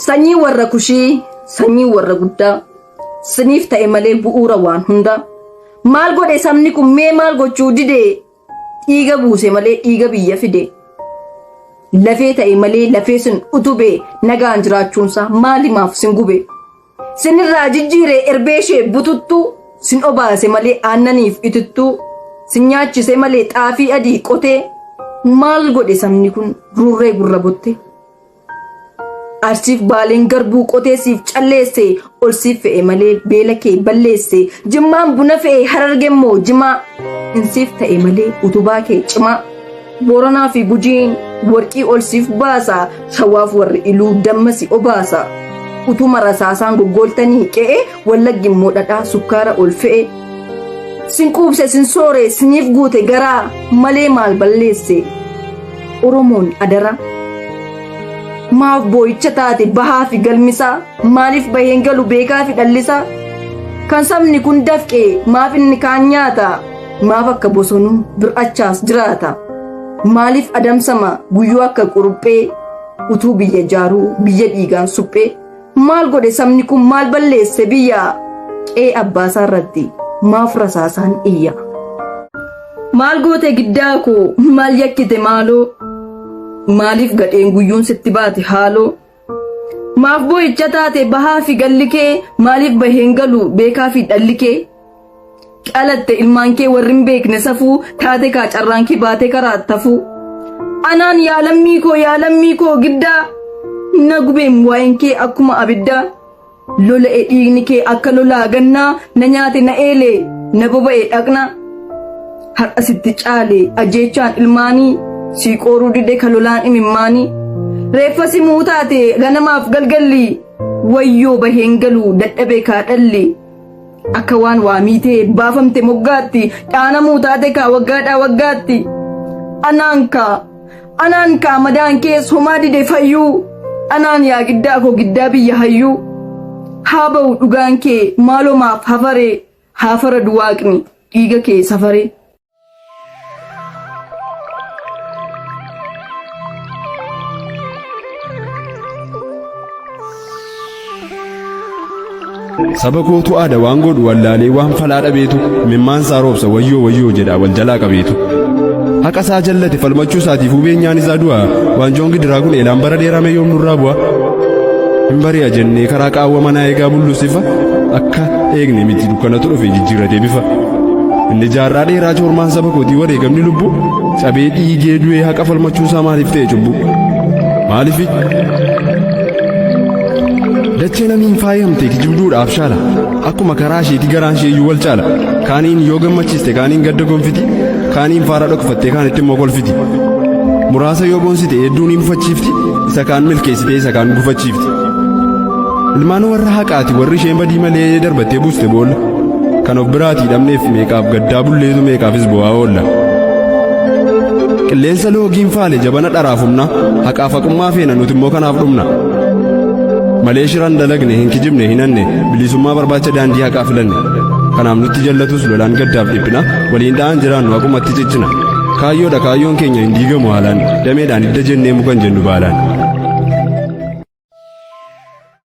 Sanyii warra kushii, sanyii warra guddaa, siniif ta'e malee bu'uura waan hundaa. Maal godhe sabni kun mee maal gochuu dide? Dhiiga buuse malee dhiiga biyya fide. Lafee ta'e malee lafee sin utube nagaan jiraachuunsaa maalimaaf sin gube? Sinirraa jijjiire erbee ishee bututtuu sin obaase malee aannaniif itittuu sin nyaachise malee xaafii adii qotee maal godhe sabni kun rurree gurra botte? Arsiif baaleen garbuu qotee siif calleesse ol siif fe'e malee beela kee balleesse jimmaan buna fe'e hararge immoo jimaa in siif ta'e malee utubaa kee cimaa booranaa fi gujiin warqii ol siif baasa shawaaf warri iluu damma si obaasa utuma rasaasaan goggooltanii qe'e wallaggi immoo dhadhaa sukkaara ol fe'e sin quubse sin soore siniif guute garaa malee maal balleesse. Oromoon adaraa maaf boo'icha taate bahaa fi galmisaa maaliif baheen galu beekaa fi dhallisaa kan sabni kun dafqee maaf inni kaan nyaata maaf akka bosonuu bir'achaas jiraata maaliif adamsama guyyuu akka quruphee utuu biyya jaaruu biyya dhiigaan suphee Maal godhe sabni kun maal balleesse biyya qee abbaasaa irratti maaf rasaasaan iyya. Maal goote giddaa koo maal yakkite maaloo maaliif gadheen guyyuun sitti baate haaloo. Maaf boo'icha taate bahaa fi galli kee maaliif baheen galu beekaa fi dhalli kee. Dhalatte ilmaan kee warri hin beekne safuu taate kaa carraan kee baatee karaa tafuu. Anaan yaa lammii koo yaa lammii koo giddaa na gubeem waa'een kee akkuma abiddaa. Lola'e dhiigni kee akka lolaa gannaa na nyaate na eele na boba'e dhaqna. Har'a sitti caale ajjeechaan ilmaanii sii qooruu dide ka lolaan imimmaanii. Reeffa simuu taate ganamaaf galgalli wayyoo baheen galu dadhabee kaa dhalli. Akka waan waa miitee baafamte moggaatti dhaanamuu taate kaa waggaadhaa waggaatti. Anaan kaa anaan kaa madaan kees homaa dide fayyuu anaan yaa giddaa koo giddaa biyya hayyuu. Haa ba'u dhugaan kee maalomaaf hafaree haafara duwaaqni dhiiga kee safaree. saba kootu aada waan godhu wallaalee waan falaa dhabeetu mimmaan isaa roobsa wayyoo wayyoo jedha wal jalaa qabeetu haqa isaa jallate falmachuu isaatiif hubeen nyaan isaa du'a waanjoon gidiraa kun eelaan bara dheeramee yoom nurraa bu'a hin bari'a jennee karaa qaawwa manaa eegaa bullusifa akka eegne miti dukkanatu dhufe jijjiirratee bifa Inni jaarraa dheeraa joormaan saba kootii wareegamni lubbuu cabee dhiigee du'ee haqa falmachuu isaa maaliif ta'e cubbuu? Maaliif? Dachee namiin faayamte kijibduudhaaf shaala. Akkuma karaa isheetii garaan ishee iyyuu wal caala. Kaaniin yoo gammachiiste kaaniin gadda gonfiti. Kaaniin faara dhokfattee kaanitti immoo kolfiti. Muraasa yoo boonsite hedduu ni mufachiifti. Isa kaan milkeessitee isa kaan gufachiifti. Ilmaan warra haqaati warri isheen badii malee darbattee buuste boolla. Kan of biraatii dhabneef meeqaaf gaddaa bulleetu meeqaafis bu'aa oolla. Qilleensa loogiin faale jabana dharaaf humna haqaaf haqummaa feena nuti immoo kanaaf dhumna. Malee shiran dalagne hin kijibne hin hanne bilisummaa barbaacha daandii haqaa filanne. Kanaaf nutti jallatus lolaan gaddaaf dhiphina waliin dha'aan jiraannu haqumatti cichina. Kaayyoodha kaayyoon keenya hin diigamu haalaan dameedhaan hidda jennee mukan jennu baalaan.